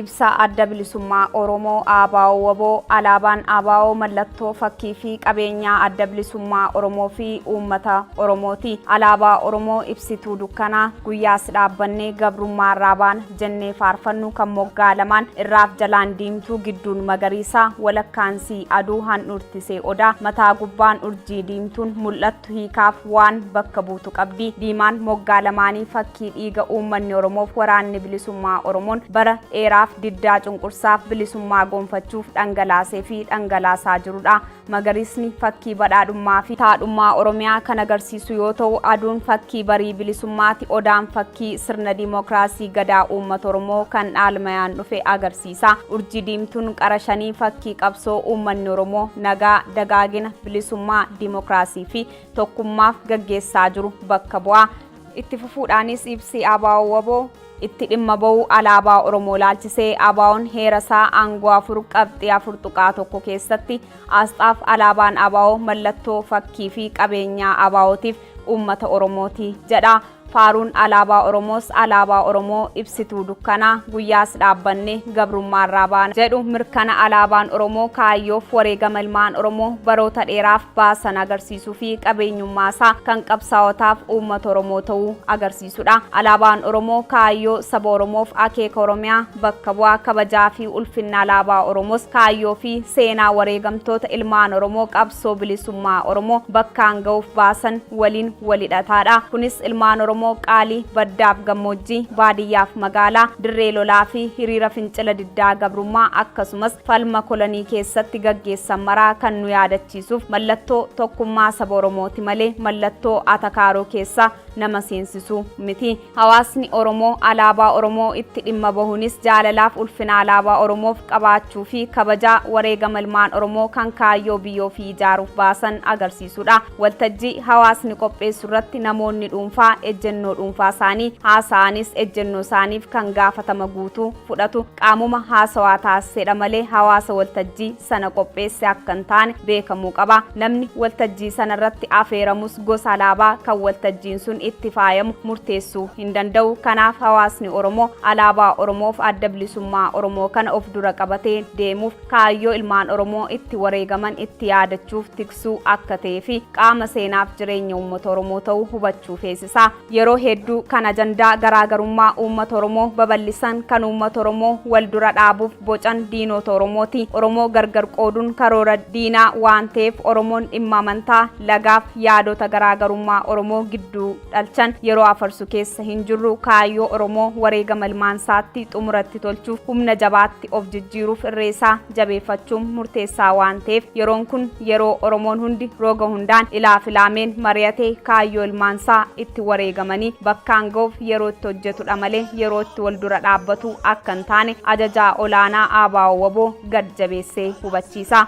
Ibsa Adda Bilisummaa Oromoo ABO-WBO Alaabaan ABO mallattoo, fakkii fi qabeenyaa Adda Bilisummaa Oromoo fi uummata Oromooti. Alaabaa Oromoo ibsituu dukkanaa, guyyaas dhaabbannee gabrummaa irraa baana jennee faarfannu kan moggaa lamaan, irraaf jalaan diimtuu, gidduun magariisa, walakkaan sii aduu handhuurtisee odaa, mataa gubbaan urjii diimtuun mul'attu. tu hiikaaf waan bakka buutu qabdi. Diimaan moggaa lamaanii fakkii dhiiga uummanni Oromoof waraanni bilisummaa Oromoon bara dheeraaf diddaa cunqursaaf bilisummaa gonfachuuf dhangalaasee fi dhangalaasaa jirudha. Magariisni fakkii badhaadhummaa fi taadhummaa Oromiyaa kan agarsiisu yoo ta'u, aduun fakkii barii bilisummaati, odaan fakkii sirna diimokiraasii gadaa uummata Oromoo kan dhaalmayaan dhufe agarsiisa. Siisaa, Urjii diimtuun qara shanii fakkii qabsoo uummanni Oromoo nagaa, dagaagina, bilisummaa, dimokiraasii fi tokkummaaf gaggeessaa jiru bakka bu'a. Itti fufuudhaanis ibsi ABO wbo itti dhimma ba'u alaabaa Oromoo ilaalchisee ABOn heera isaa aangoo 4 qabxii 4.1 keessatti aasxaaf alaabaan ABO mallattoo fakkii fi qabeenyaa ABOtiif uummata Oromooti jedha. Faaruun alaabaa Oromoos alaabaa Oromoo ibsituu dukkanaa guyyaas dhaabbanne gabrummaarraa baana jedhu mirkana alaabaan Oromoo kaayyoof wareegama ilmaan Oromoo baroota dheeraaf baasan agarsiisuu fi qabeenyummaa isaa kan qabsaawotaaf uummata Oromoo ta'uu agarsiisudha. Alaabaan Oromoo kaayyoo saba Oromoof akeeka Oromiyaa bakka bu'a kabajaa fi ulfinna alaabaa Oromoos kaayyoo fi seenaa wareegamtoota ilmaan Oromoo qabsoo qabsoo bilisummaa Oromoo bakkaan ga'uuf baasan waliin wal hidhataadha. Kunis ilmaan Oromoo qaalii baddaaf gammoojjii, baadiyyaaf magaalaa, dirree lolaa fi hiriira fincila diddaa gabrummaa akkasumas falma kolonii keessatti gaggeessan maraa kan nu yaadachiisuuf mallattoo tokkummaa saba Oromooti malee mallattoo atakaaroo keessa nama seensisu miti. Hawaasni Oromoo Alaabaa Oromoo itti dhimma bahuunis jaalalaaf ulfina Alaabaa Oromoof qabaachuu fi kabajaa wareegama ilmaan Oromoo kan kaayyoo biyya ofii ijaaruuf baasan agarsiisuudha. Waltajjii hawaasni qopheessu irratti namoonni dhuunfaa ejjennoo dhuunfaa isaanii haasa'anis ejjennoo isaaniif kan gaafatama guutuu fudhatu qaamuma haasawaa taasiseedha malee hawaasa waltajjii sana qopheesse akka hin taane beekamuu qaba. Namni waltajjii sana irratti afeeramus gosa alaabaa kan waltajjiin sun itti faayamu murteessuu hin danda'u. Kanaaf hawaasni Oromoo alaabaa Oromoof adda bilisummaa Oromoo kana of dura qabatee deemuuf kaayyoo ilmaan Oromoo itti wareegaman itti yaadachuuf tiksuu akka ta'ee fi qaama seenaaf jireenya uummata Oromoo ta'uu hubachuu feesisa. Yeroo hedduu kan ajandaa garaagarummaa uummata Oromoo babal'isan, kan uummata Oromoo wal dura dhaabuuf bocan diinoota Oromooti. Oromoo gargar qooduun karoora diinaa waan ta'eef Oromoon dhimma amantaa, lagaaf yaadota garaagarummaa Oromoo gidduu dhalchan yeroo afarsu keessa hin jirru. Kaayyoo Oromoo wareegama ilmaansaatti xumura itti tolchuuf humna jabaatti of jijjiiruuf irreesaa. jabeeffachuun murteessaa waan ta'eef yeroon kun yeroo Oromoon hundi roga hundaan ilaa filaameen mari'atee kaayyoo ilmaansaa itti wareegamanii bakkaan ga'uuf yeroo itti hojjetudha malee yeroo itti wal dura dhaabbatu akka hin taane ajajaa olaanaa ABO wbo gad jabeessee hubachiisa.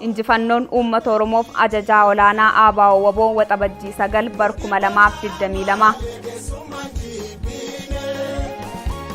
Injifannoon uummata Oromoof ajajaa olaanaa ABO wbo Waxabajjii 9 bar 2022.